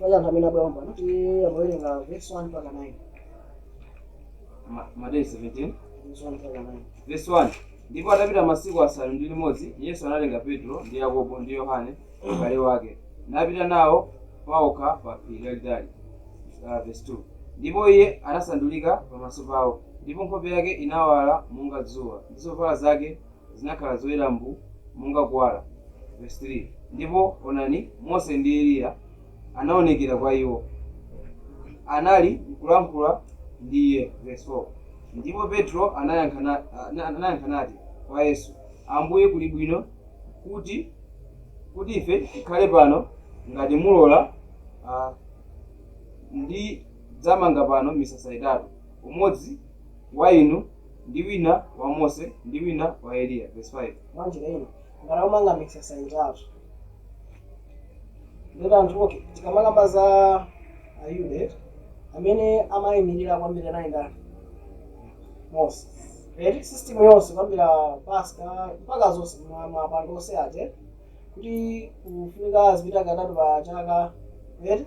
Pali anthu amene abwera pompano tiyeni awerenge verse 1 mpaka 9. Ma- Mateyu 17 Verse 1 mpaka 9. verse 1 ndipo atapita masiku asanu ndi limodzi yesu anatenga petro ndi yakobo ndi yohane m'bale wake napita nawo paokha pa phiri lalitali uh, verse 2 ndipo iye anasandulika pamaso pawo ndipo nkhope yake inawala monga dzuwa ndi zovala zake zinakhala zoyera mbu monga kuwala, vesi 3, ndipo, onani, Mose ndi Eliya anawonekera kwa iwo, anali nkulankhula ndi iye, vesi 4, ndipo Petro anayankha na, anayankha nati kwa Yesu, Ambuye, kuli bwino kuti, kuti ife tikhale pano, ngati mulola, a, ndidzamanga pano misasa itatu, umodzi wa inu, ndi wina wa Mose ndi wina wa Eliya. Vesi 5. Mwanjira ina, ngati akumanga misasa itatu, ndiye anthu okay, tikamakamba za Ayuda eti, amene amayimirira kwambiri anali ndani? Mose. System yonse kwambira Paska mpaka zonse ma- maphwando onse aja eti, kuti kufunika azipita katatu pa chaka eti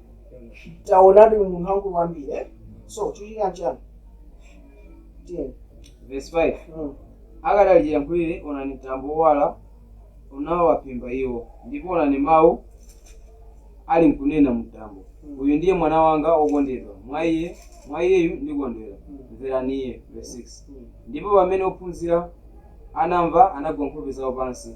taonani munthu wamkulu kwambiri so chichitika nchani Verse 5. Mm. akadali chiyankhulire onani mtambo wowala unawaphimba iwo ndipo onani mawu ali nkunena mumtambo uyu ndiye mwana wanga wokondedwa mwa iye mwa iyeyu ndikondwera mverani iye verse 6 ndipo pamene ophunzira anamva anagwa nkhope zawo pansi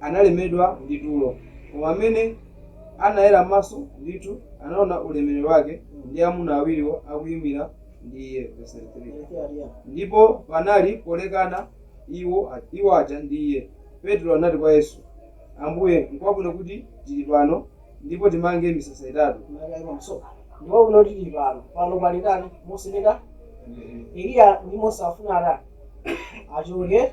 analemedwa ndi tulo, koma m'mene anayera maso ndithu anaona ulemerero wake, ndi amuna awiriwo akuimira ndi Iye, vesi 33. Ndipo panali polekana iwo, iwo aja ndi Iye, Petro anati kwa Yesu, Ambuye, nkwabwino kuti tiri pano, ndipo timange misasa itatu. Nkwabwino kuti tiri pano, pano pali ndani? Mose ndi ndani? Eliya ndi Mose afuna atani? Achoke.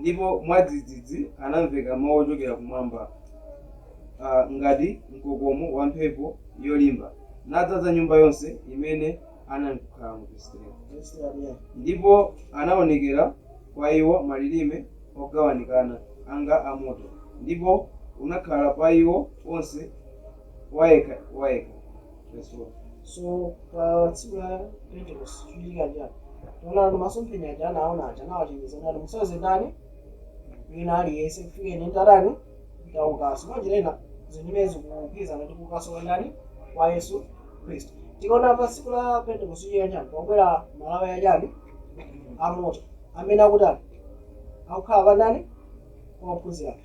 Ndipo mwadzidzidzi anamveka mawu ochokera kumwamba, a, ngati mkokomo wa mphepo yolimba, nadzaza nyumba yonse imene anali nkukhalamo, vesi 3. Ndipo anaonekera kwa iwo malilime ogawanikana onga a moto, ndipo unakhala pa iwo onse wayekha wayekha. Verse 4. So tsiku la Pentecost chikuchitika nchani? Tikuona kuti masomphenya aja anaona aja anawachenjeza kuti musauze ndani wina aliyense kufikira nditatani nditaukanso. Mwanjira ina zimenezi zikugwirizana ndi kuukanso kwa ndani kwa Yesu Khristu. Tikaona pa tsiku la Pentecost chikuchitika nchani? Pakubwera malawi achani amoto amene akutani akukhala pa ndani kwa ophunzira ake.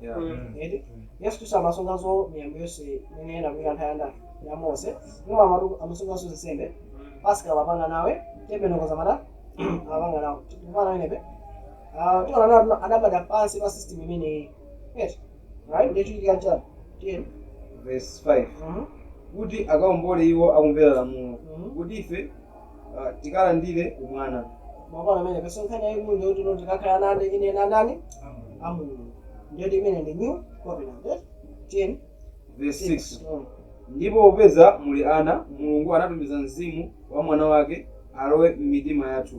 Yeah. Mm. eti yesu khristu amasunganso miyambo yonse imene inagwira nthawi ya nda ya mose imwe amatu amasunganso nsembe pasika amapanga nawo tabernacles amatani amapanga nawo tikumvana pamenepa tiona natu adabadwa pansi pa system imeneyi eti right nde chikuchitika chani tiyeni Verse 5. Mhm. kuti akaombole iwo akumvera lamulo Mhm. kuti ife ah, tikalandire umwana mwaona pamenepa so nkhani yayikulu ndi kuti tikakhale ana ane ine ana a ndani a mulungu ndiyo imene ndi new covenant eh? tiyeni verse 6 Mm. ndipo popeza muli ana mulungu anatumiza mzimu wa mwana wake alowe m'mitima yathu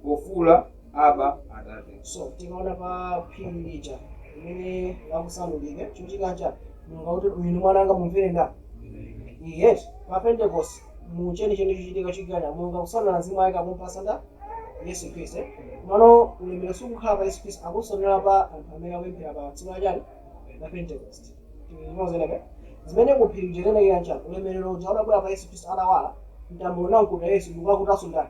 pofuula aba atate so tikaona pa phiri lija limene lakusandulika chochitika chani mulungu akuti uyu ndi mwana wanga mumvere nda yesu pa pentekosti mu chenicheni chochitika chikikana mulungu akutsanula mzimu wake akumpatsa nda yesu khristu eh? komano ulemero sukukhala pa yesu khristu akutsanula pa anthu amene akupemphera pa tsiku la chani la pentecost tikumva zimenezi zimene kuphiri kuchezenekera nchani ulemerero uja udabwera pa yesu khristu atawala mtambo unamkuta yesu ndikukakutanso ndani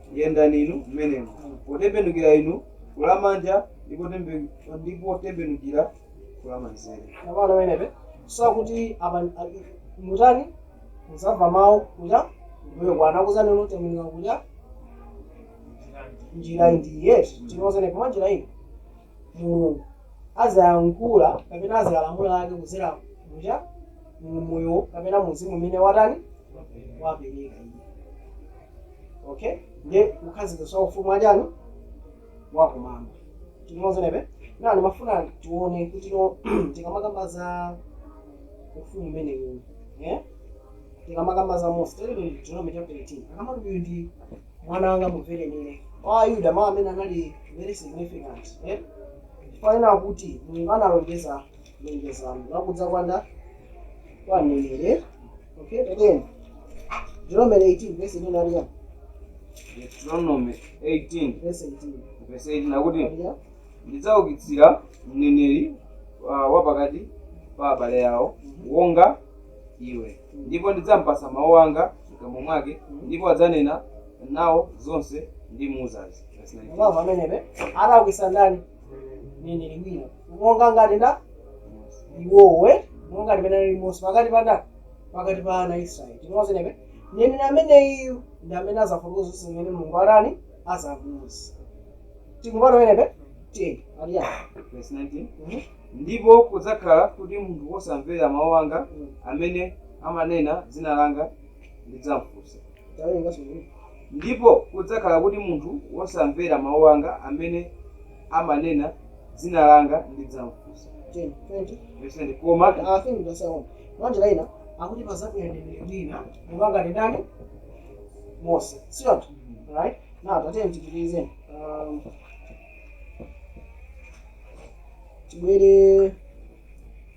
Yendani inu mmenemo, potembenukira inu ku lamanja ndi potembe, ndi potembenukira ku lamanzere. Tsopano, pamenepa akuti apa, mutani, mudzamva mawu kuja kumbuyo kwanu akuuzani inu, Tembenukira kuja njira ndiyi, eti, tikumva zimenezi mwanjira ina. Mulungu adzayankhula kapena adzalamula Ake kudzera kuja mu Moyo kapena mu Mzimu umene watani? wapereka Iye. okay ndiye kukhazikitsa ufumu wa chani wakumwamba tikumva zimenezi ndimafuna tione kuti no tikamakamba za ufumu umenewu eh? tikamakamba za mose tili ndi deuteronomy chapter 18 akamati uyu ndi mwana wanga mumvereni iye kwa ayuda mawu amenewa anali very significant eh? chifukwa chonena kuti mulungu analonjeza Lonjezano la kudza kwa nda kwa mneneri okay tiyeni Deuteronomy 18 verse ino nali ya Deuteronomy 18 verse 18 verse 18 akuti nali ya ndidzaukitsira mneneri uh, wapakati pa abale awo wonga iwe ndipo ndidzampasa mawu anga mkamwa mwake ndipo adzanena nawo zonse ndimuuzazi Verse 19. mwamva pamenepa adzaukitsa ndani mneneri wina monga ngati nda iweyo eh? monga ngati mmene ali mose pakati pa ndani pakati pa ana a israeli tikumva zimenezi mneneri ameneyu ndi amene azafotokoza zonse zimene mulungu atani azamuuza tikumvana pamenepa tiyeni aliya Verse 19. Mhm. ndipo kudzakhala kuti munthu wosamvera mawu anga amene amanena dzina langa ndidzamfunsa Ndipo kudzakhala kuti munthu wosamvera mawu anga amene amanena dzina langa ndidzamfunsa, vesi 10, koma mwanjira ina akuti padzabwera mneneri wina monga ngati ndani? Mose. Si choncho? Right? Now tatiyeni tipitirize. Um, tibwere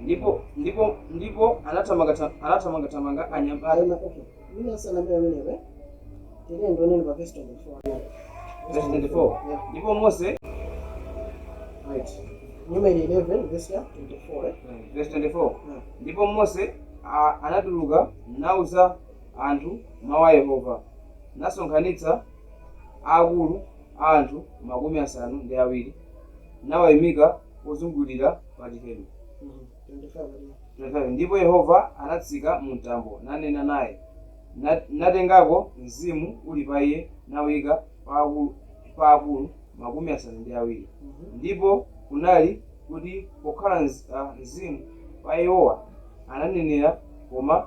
ndipo ndipo ndipo anathamanga anathamanga thamanga anyamata verse 24 ndipo Mose verse 24 ndipo Mose a- anatuluka nauza anthu mau a Yehova, nasonkhanitsa aakulu a anthu makumi asanu ndi awiri, nawaimika pozungulira pachihema. 25 ndipo Yehova anatsika mumtambo, nanena naye, natengako mzimu uli pa iye, nauika pa akulu makumi asanu ndi awiri, ndipo kunali, kuti pokhala mzimu pa iwowa, ananenera koma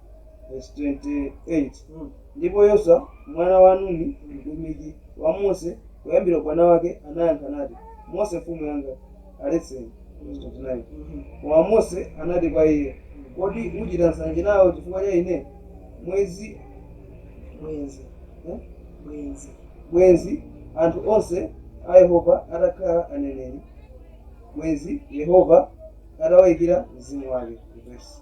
Vesi 28, Hmm. Ndipo Yoswa mwana wa Nuni, mtumiki wa Mose kuyambira ubwana wake, anayankha nati, Mose mfumu yanga, aletseni. Vesi 29, Hmm. Koma Mose anati kwa iye, Kodi ucita nsanje nao cifukwa ca ine? Mwenzi, Bwenzi, eh? Bwenzi. bwenzi anthu onse a Yehova atakhala aneneri, bwenzi Yehova atawaikira mzimu wake. Vesi.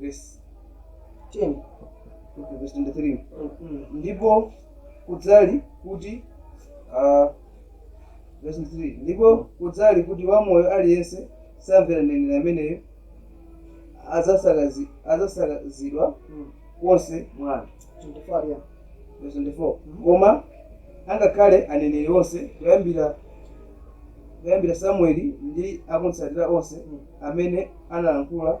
vesi 10 okay, vesi 23 Mm. ndipo kudzali kuti ah, vesi 23 ndipo kudzali kuti wamoyo aliyense samvera mneneri ameneyo adzasakazi- adzasakazidwa Mm. konse mwa anthu 24 yeah. Verse 24. koma angakhale aneneri onse kuyambira kuyambira samueli ndi akumtsatira onse Mm. amene analankhula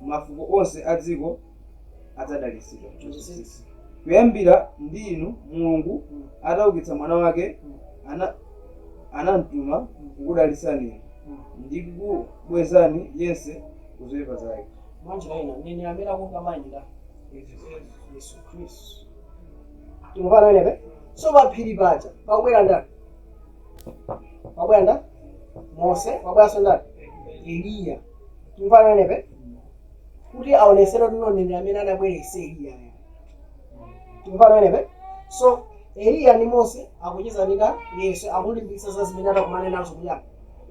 Mafuko onse a dziko adzadalitsidwa, 26, kuyambira ndi inu. Mulungu ataukitsa Mwana Wake, ana, anamtuma kukudalitsani inu ndi kukubwezani yense ku zoipa zake. Mwanjira ina, mneneri amene akumva amayimira Yesu Khristu. Tikumvana pamenepe? So pa phiri paja pakubwera ndani? Pakubwera ndani? Mose. Pakubweranso ndani? Eliya. Tikumvana pamenepo kuti aonesere kuti mneneri amene anabwera si Eliya ayi. Tikumvana pamenepo. So Eliya ndi Mose akucheza ndi ndani? Ndi Yesu akulimbikitsa za zimene atakumane nazo kuja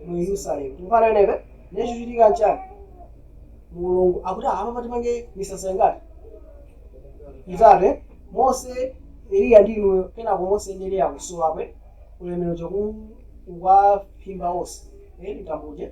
mu Yerusalemu. Tikumvana pamenepo. Ndiye chochitika nchani? Mulungu akuti apa timange misasa ingati? Itatu Mose Eliya ndi inuyo kenako Mose ndi Eliya akusowa kwe ulemero chaku ukuwaphimba onse. Eh, ndi mtambo uja.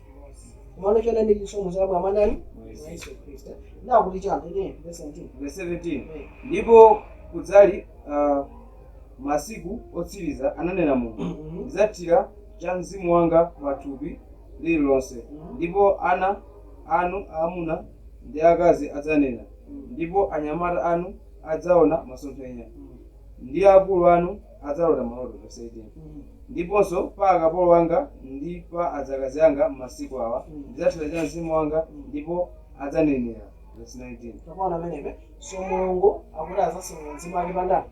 Komano choonadi ndi chisomo zabwera mwa ndani mwa Yesu Khristu. Nawo akuti chani 13 verse 17. Verse 17 Eh. Ndipo kudzali ah, masiku otsiriza, ananena Mulungu, Mhm. ndidzathira cha mzimu wanga pa thupi liri lonse, Mhm. ndipo ana anu aamuna ndi aakazi adzanena, Mhm. ndipo anyamata anu adzaona masomphenya, Mhm. ndi akulu anu adzalota maloto, vesi 18, ndiponso pa akapolo anga ndi pa adzakazi anga m'masiku awa ndidzathira cha Mzimu wanga ndipo adzanenera, vesi 19. Tikumvana pamenepo? So Mulungu akuti adzatsanula Mzimu Wake pa ndani?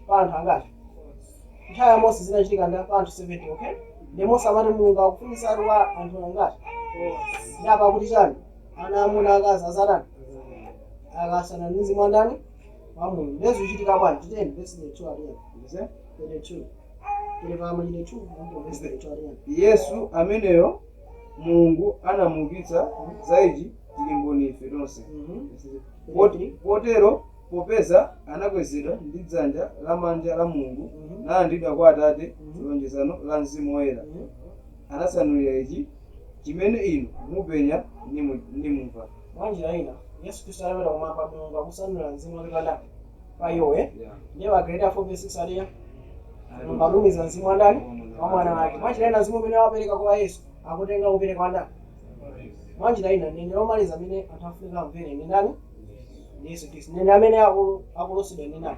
Pa anthu angati? Nthawi ya Mose zinachitika ndi pa anthu 70, okay? Ndi Mose amati Mulungu akufunitsatu kwa anthu angati? Ndi apa akuti chani? Ana amuna akazi azatani? Akasana ndi Mzimu wa ndani? wa mulungu ndiye zikuchitika bwanji tiyeni vesi 32 ati chani vesi 32 tili pa machitidwe 2 ndipo vesi 32 ati chani yesu ameneyo mulungu anamuukitsa za ichi tili mboni ife tonse Mhm. Poti- potero popeza anakwezedwa ndi dzanja lamanja la mulungu Mhm. nalandidwa kwa atate Mhm. lonjezano la mzimu woyera Mhm. anatsanulira ichi chimene inu mupenya nimu- nimumva Mwa njira ina, Yesu Kristu atapita kumwamba, Mulungu akutsanulira mzimu wake pa ndani? Pa iwo, e? Ndiye pa Agalatiya 4 vesi 6 ati chani? Mulungu atumiza mzimu wa ndani? Wa Mwana wake. Mwa njira ina, mzimu umene wapereka kwa Yesu akutenga kupereka kwa ndani? Mwa njira ina, mneneri omaliza amene anthu afunika amvere ndi ndani? Ndi Yesu Kristu. Mneneri amene akulosedwa ndi ndani?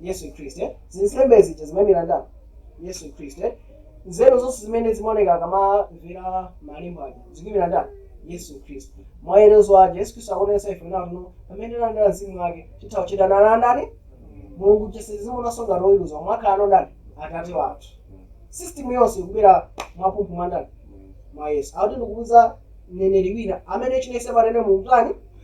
Yesu Khristu eh? zinsembe zija zimaimira ndani Yesu Khristu eh? nzeru zonse zimene zimaoneka akamamvera malembo aja zikuimira ndani Yesu Khristu mayeretso aja Yesu Khristu akuonesa ife nawo no pamene talandira mzimu wake titha kuchedana na ndani mulungu sitimuonanso ngati oweruza wakhala no ndani atate wathu system yonse ikubwera mwapumphu mwa ndani mwa yesu akuti ndikuutsa mneneri wina amene chilichonse anene mumtani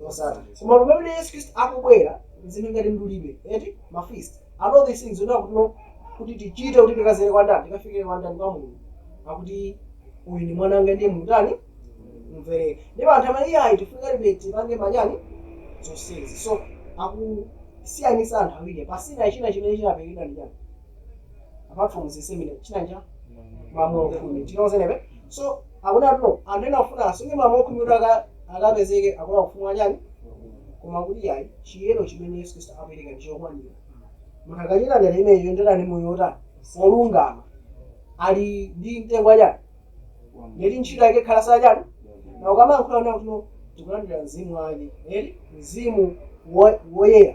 losatha koma pamene yesu khristu akubwera zinthu ngati mdulidwe eti mafeast and all these things zonena kutino kuti tichite kuti tikadzere kwa ndani tikafikire kwa ndani kwa mulungu akuti uyu ndi mwana wanga ndiye mutani mumverere ndipo anthu amene iye ayi tifunikabe tipange manyani zonsezi so akusiyanisa anthu awiri pasina china chimene chinaperekedwa ndi chani apart from zese imene chinanja malamulo khumi tinaozenebe so akuti atuno anthu ena afuna asunge malamulo khumi kuti aka- akapezeke akulowa ufumu wa chani koma kuti yayi chiyero chimene yesu khristu apereka ndi chokwanira munthu akachita njira imeneyi yoyendera ndi moyo wotani wolungama ali ndi mtengo wa chani ndeti ntchito yake khala za chani now ukamayankhula kuti akuno tikulandira mzimu wake eti mzimu wo- woyera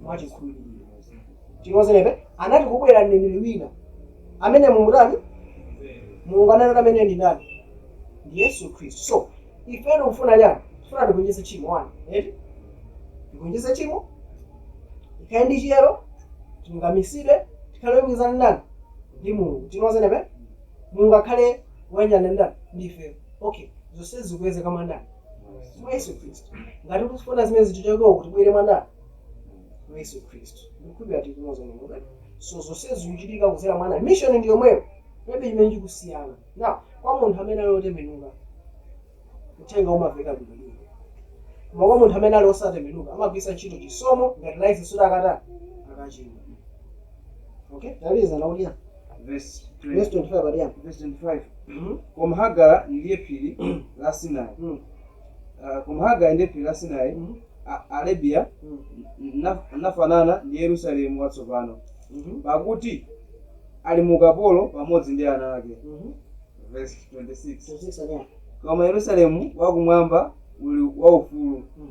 mwa chikhulupiriro tilozebe anati kubwera mneneri wina amene mumutani mulungu ananena amene ndi ndani ndi yesu khristu so ife tikufuna chani tifuna tigonjetse tchimo wani eti tigonjetse tchimo tikhale ndi chiyero tilungamitsidwe tikhale oyanjanitsana ndani ndi mulungu tinozenebe mulungu akhale woyanjana ndani ndi ifeyo okay zonsezi zikupezeka mwa ndani mwa yesu khristu ngati tikufuna zimenezi tichokeko kuti tibwere mwa ndani mwa yesu khristu ndikukhulupirira tikumoza mulungu so zonse zikuchitika kudzera mwa ndani mission ndi yomweyo palibe chimene chikusiyana now kwa munthu amene ali otembenuka uthenga umaveka bwino bwino koma kwa munthu amene ali osatembenuka amagwiritsa ntchito chisomo ngati license kuti akatani akachimwa okay taliza naulia verse verse 20 25 alia verse 25 Mhm. koma hagara ndiye phiri la sinai Mm. Ah, koma hagara ndiye phiri la sinai Mhm. A- arabiya Mm. na- nafanana ndi yerusalemu watsopano Mhm. pakuti ali mu ukapolo pamodzi ndi ana ake Mhm. verse 26 26 alia koma yerusalemu wakumwamba uli waufulu Mm.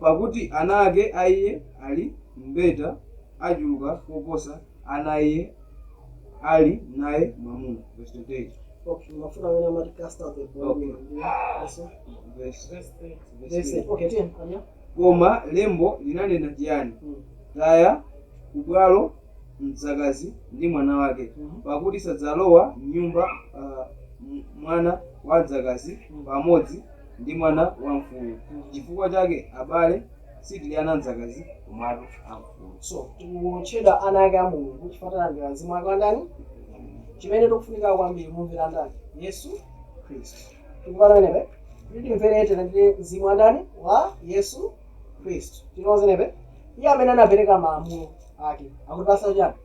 Pakuti ana ake a iye ali mbeta achuluka koposa ana a iye ali naye mwamuna, vesi 28. Okay, ndimafuna pamene amati cast out the bondwoman Okay. and her son. Vesi- Verse 30. vesi Verse 30. Okay, tiye pamene. Koma lembo linanena chiyani? Mm. Taya kubwalo mdzakazi ndi mwana wake, Mhm. pakuti sadzalowa m'nyumba ah, m- mwana wa mdzakazi pamodzi ndi mwana wa mfulu. Chifukwa chake, abale, sitili ana a mdzakazi, komatu a mfulu. So, tikutchedwa ana ake a Mulungu chifukwa talandira mzimu wake wa ndani? Chimene tikufunika kwambiri, kumumvera ndani? Yesu Khristu. Tikumva pamenepo? Kuti timvere tilandire mzimu wa ndani? Wa Yesu Khristu. Tikumva pamenepo? Iye amene anapereka malamulo ake akutipatsa chiyani?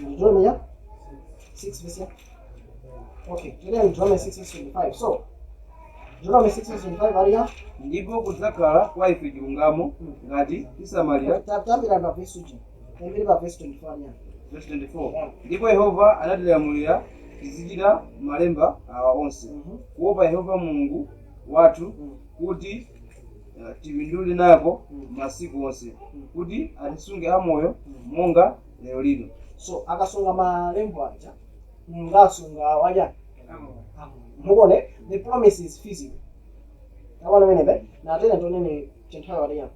Deuteronomy 6 verse ya. Okay, tiyeni Deuteronomy 6 verse 25. So, Deuteronomy 6 verse 25 aliya. Ndipo kudzakhala kwa ife chilungamo ngati tisamalira Tayambira pa verse uji. Tayambira pa verse 24 aliya. verse 24. Ndipo Yehova anatilamulira tizichita malemba awa onse. Mhm. Kuopa Yehova Mulungu wathu kuti eh, tipindule nako masiku onse kuti atisunge amoyo monga lero lino so akasunga malembo aja mulungu asunga awo aja mukuona the promise is physical abana bene be natene tonene chinthawi watiya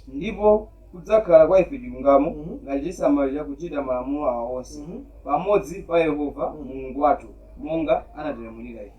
ndipo kudzakhala kwa ife chilungamo Mhm. ngati tisamalira kuchita malamulo awa onse Mhm. pamodzi pa yehova mulungu wathu monga anatilamulira ife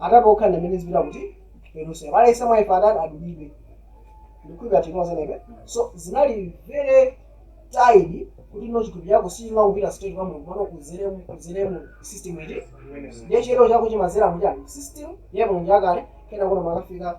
atatu okha ndi amene azipita kuti Yerusalemu pale ise mwaife atatu adulidwe ndikukhulupira timoze nebe so zinali very tight kuti no chithupi chako sichimapita straight kwa mulungu mano kudzera mu kudzera mu system eti ndiye chiyero chako chimadzera mu chani system ya mulungu yakale kenako mumakafika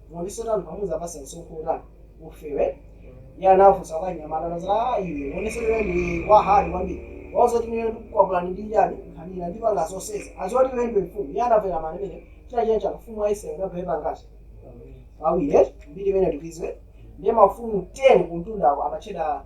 Muli sotani pa mudzawapatse msonkho wotani ufewe? Iye anafunsa kwa anyamata nazati aah iwe uonetse iwe ndiwe wa hard kwambiri uwauze kuti ineyo ndikukwapulani ndi chani nkhanira ndipanga zonsezi adziwe kuti iwe ndiwe mfumu iye anamvera mani imeneyo china china chani ufumu wa Israel unagawika pangati pawiri eti mbiri imeneyo tikuidziwa ndiye mafuko 10 kumtundako amatchedwa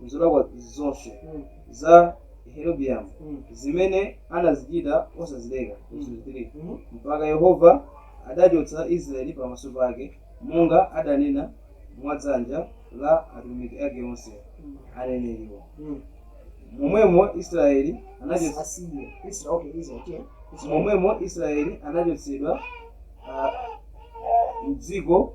M'zolakwa zonse za Yerobiamu zimene anazichita osazileka, vesi 3, mpaka Yehova adachotsa Israeli pamaso pake, monga adanena mwa dzanja la atumiki ake onse, aneneriwo. Momwemo Israeli momwemo Israeli anachotsedwa m'dziko.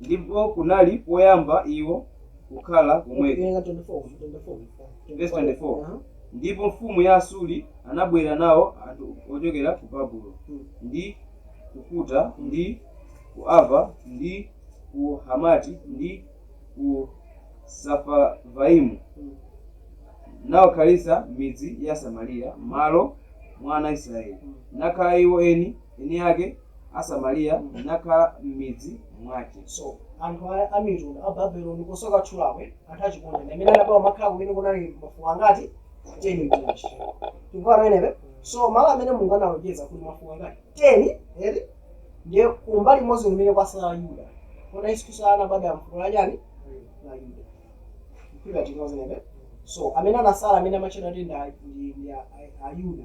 Ndipo kunali, poyamba iwo kukhala komweko, vesi 24, ndipo mfumu ya Asuri anabwera nao anthu ochokera ku Babulo, ndi ku Kuta, ndi ku Ava, ndi ku Hamati, ndi ku Safavaimu, nawakhalitsa m'midzi ya Samariya m'malo mwa ana a Israyeli, nakhala iwo eni eni ake. a Samariya nakhala m'midzi mwake. So anthu a amitundu a Babeloni kusoka chulawe anthu achikunja ndi amene anabwera kumakhala kumene kunali mafuko angati 10 mchina chichewa tikuona pamenepo so malo amene mulungu analonjeza kuli mafuko angati 10 eti ndiye kumbali imodzi kumene kwasala yuda kota yesu kristu anabadwa mfuko la chani la yuda ndikukhulupira tikuona pamenepo so amene anasala amene amatchedwa kuti ndi a- ndi- ndi a- a- ayuda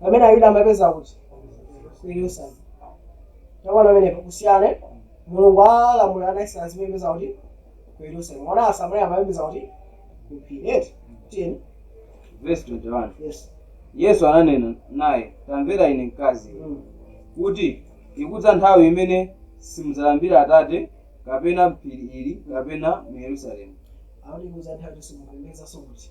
pamene Ayuda amapembedza kuti ku Yerusalemu. Tikuona pamenepo kusiyana Mulungu analamula ana Israeli azipembedza kuti ku Yerusalemu. Koma a Samaria amapembedza kuti ku phiri. Eti tiyeni. Verse 21. Yes. Yesu ananena naye, Tamvera ine mkazi iwe, Mm. kuti ikudza nthawi imene simudzalambira Atate kapena m'phiri ili kapena mu Yerusalemu. Akuti ikudza nthawi kuti simupembedzanso kuti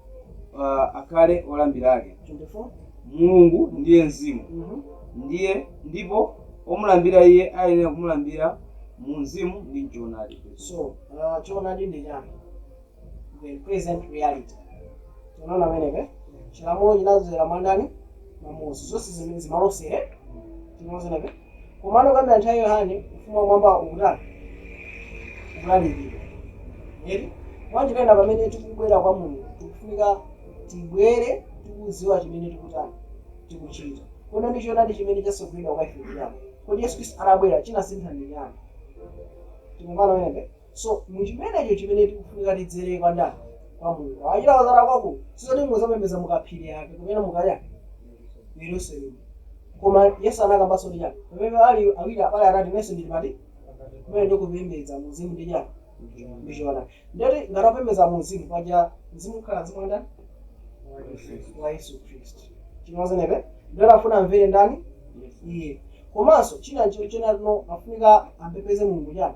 uh, akhale olambira ake 24 mulungu ndiye mzimu Mhm. ndiye ndipo omlambira iye ayenera kumulambira mu mzimu ndi mchoonadi so uh, choonadi ndi chani the present reality tinaona pamenepe chilamulo chinazera mwa ndani mwa mose zonse zimene zimalosere tinaona pamenepe Komano kuyambira nthawi ya Yohane, Ufumu wa Kumwamba ukutani? Ukulalikidwa. Eti? Mwanjira ina, pamene tikubwera kwa Mulungu, tikufunika tibwere tikudziwa chimene tikutani, tikuchita. Kodi ndi choonadi chimene chatsogoleredwa kwa ife ndi chani. Kodi Yesu Kristu atabwera chinasintha ndi chiyani? Tikumbukirana pamenepe? So mu chimenecho chimene tikufunika tidzere kwa ndani? Kwa Mulungu. Wachita kudzera kwako sizoti muzapembedza mu kaphiri kaya kumene mukaya ku Yerusalemu. Koma Yesu anakambanso ndi chani? Pamene ali awiri kapena atatu inenso ndili pakati kumene ndi kupembedza mu mzimu ndi chani? Ndi choonadi. Ndiye kuti ngati opembedza mu mzimu paja mzimu ukhala mzimu wa ndani? wa Yesu Khristu. Chimozanebe ndiye kuti afuna amvere ndani? Iye. Komanso china ncho chena no afunika ampembedze Mulungu chani?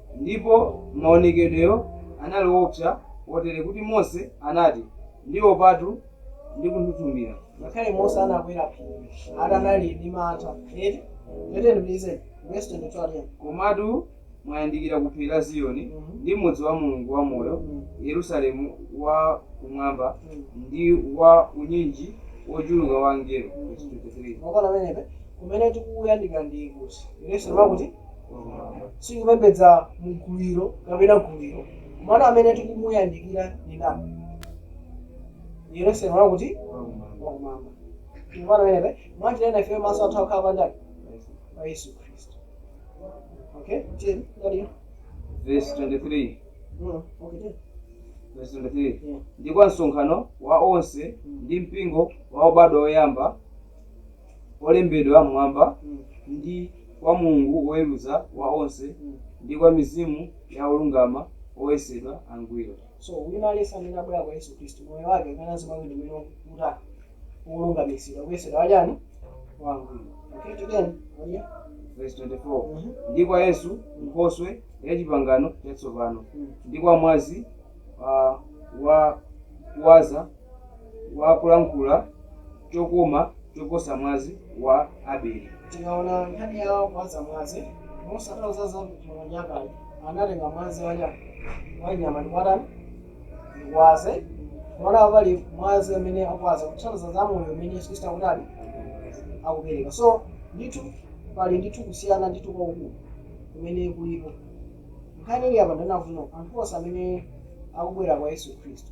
Ndipo maonekedweyo anali oopsa kotere kuti Mose anati, Ndiopatu ndi kunthunthumira. Ngakhale Mose anakwera phiri ati anali ndi mantha, eti? Tiyeni, pitirizani, vesi 22 ati. Komatu mwayandikira ku phiri la Ziyoni, ndi mudzi wa Mulungu wamoyo, Yerusalemu wa kumwamba, ndi wa unyinji wochuluka wa angelo, vesi 23. Mukuona pamenepe, kumene tikuyandikira ndi kuti? Yerusalemu wa kuti? sikupembedza mgulu ilo kapena gulu ilo komano amene tikumuyandikira ndi ndani ndi yerusalemu wakuti wakumwamba mukuona pamenepe mwanjira ina ifeyo maso athu akhala pa ndani pa yesu khristu okay tiyeni ndani Verse 23. Mm, okay tiyeni Verse 23. Yeah. Ndi kwa msonkhano wa onse ndi mpingo wa obadwa oyamba olembedwa m'mwamba, ndi kwa Mulungu woweruza wa onse, ndi kwa mizimu ya olungama oyesedwa angwiro. So wina aliyense amene abwera kwa Yesu Khristu, moyo wake ukhalanso mwa wina umene uli wolungamitsidwa, kuyesedwa wachani? wangwiro. Okay, tiyeni ndiye. Vesi 24, ndi kwa Yesu Nkhoswe ya chipangano chatsopano, ndi kwa mwazi uh, wa kuwaza. wa kulankhula chokoma choposa mwazi wa Abeli. Tikaona nkhani ya kuwaza mwazi, Mose atauza za Mulungu anthu aja, anatenga mwazi wa nyama wa nyama ndikuwatani ndikuwawaza koma pali mwazi amene akuwaza kuthandiza za moyo umene Yesu Kristu akutani akupereka. So ndithu pali ndithu kusiyana ndithu kwakukulu kumene kulipo. Nkhani ili apa ndi yakuti anthu onse amene akubwera kwa Yesu Kristu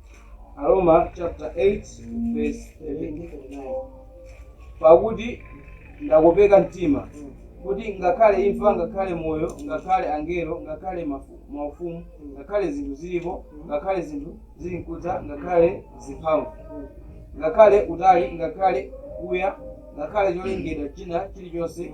Aroma chapter 8 verse 39 pakuti ndakopeka mtima kuti ngakhale imfa ngakhale moyo ngakhale angelo ngakhale maufumu ngakhale zinthu zilipo ngakhale zinthu zili nkudza ngakhale zimphamvu ngakhale utali ngakhale kuya ngakhale cholengedwa china chilichonse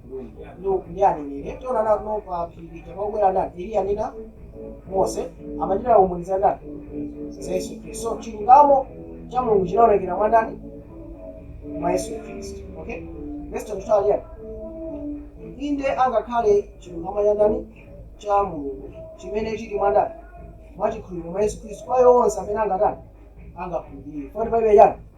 Nuhu ndi aneneri tiona nawo pa phiri lija pakubwera ndani Eliya ndi ndani Mose amachita umboni za ndani za Yesu Khristu so chilungamo cha Mulungu chinaonekera mwa ndani mwa Yesu Khristu okay verse 22 yani inde angakhale chilungamo cha ndani cha Mulungu chimene chili mwa ndani mwa chikhulupiriro mwa Yesu Khristu kwa iwo onse amene angatani angakhulupirire 45 yani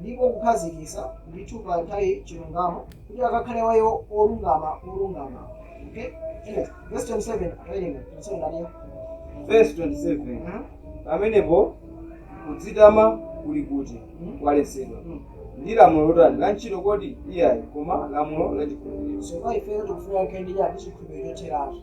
ndipo kukhazikisa ndi kupanga chilungamo kuti akakhale wa iwo olungama olungama okay Anyway, verse 27 awerenga tonsewo ndaniyo vesi 27 pamenepo kudzitama kuli kuti kwaletsedwa ndi lamulo lotani la ntchito kodi iyayi koma lamulo la chikhulupiriro so kwa ifeyo tikufuna kukhala ndi chani chikhulupiriro chotheratu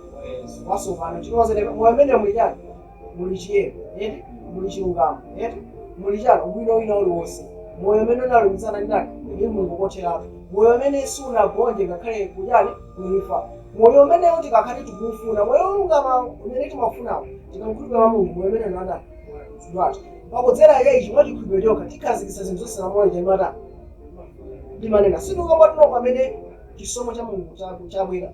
watsopano chifukwa kuti moyo umene muli chani muli chiyero eti muli chilungamo eti muli chani ubwino wina uliwonse moyo umene unalumikizana ndi ndani ndi mulungu kotheratu moyo umene sunagonje ngakhale kuchani kuimfa moyo umenewo tikakhale tikuufuna moyo wolungama umene timafunawo tikamkhulupirira mwa mulungu moyo umene unada wathu pakudzera yechi mwa chikhulupiriro chokha tikhazikitsa zinthu zonse lamulo lija imata ndimanena sindikapatulo pamene chisomo cha mulungu chaku- chabwera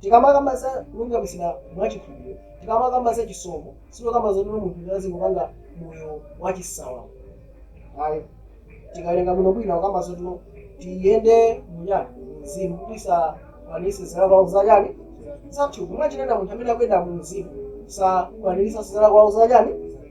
Tikamakamba za kulungamitsidwa mwa chikhulupiriro, tikamakamba za chisomo, sitikukamba zoti munthu azingopanga moyo wachisawawa ayi. Tikawerenga bwinobwino akukamba zoti tiyende mu chani? Mu Mzimu, kuti tisakwaniritse zilakolako za chani? Za thupi. Mwachidule munthu amene akuyenda mu Mzimu sakwaniritsanso zilakolako za chani?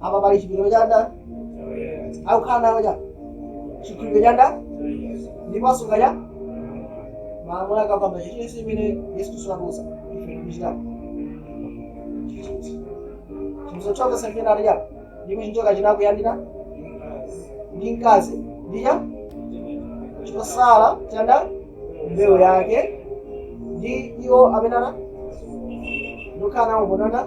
apa pali chipiriro cha ndani akukhala nawo cha chikhulupiriro cha ndani ndipo asunga cha malamulo akapamba chilichonse chimene yesu kristu anatiuza ife tikuchitapo chimuzochoka sefena ali cha ndipo chinjoka chinakwiya ndi mkazi ndi cha chotsala cha ndani mbewu yake ndi iwo amene ana ndikukhala nawo mbonana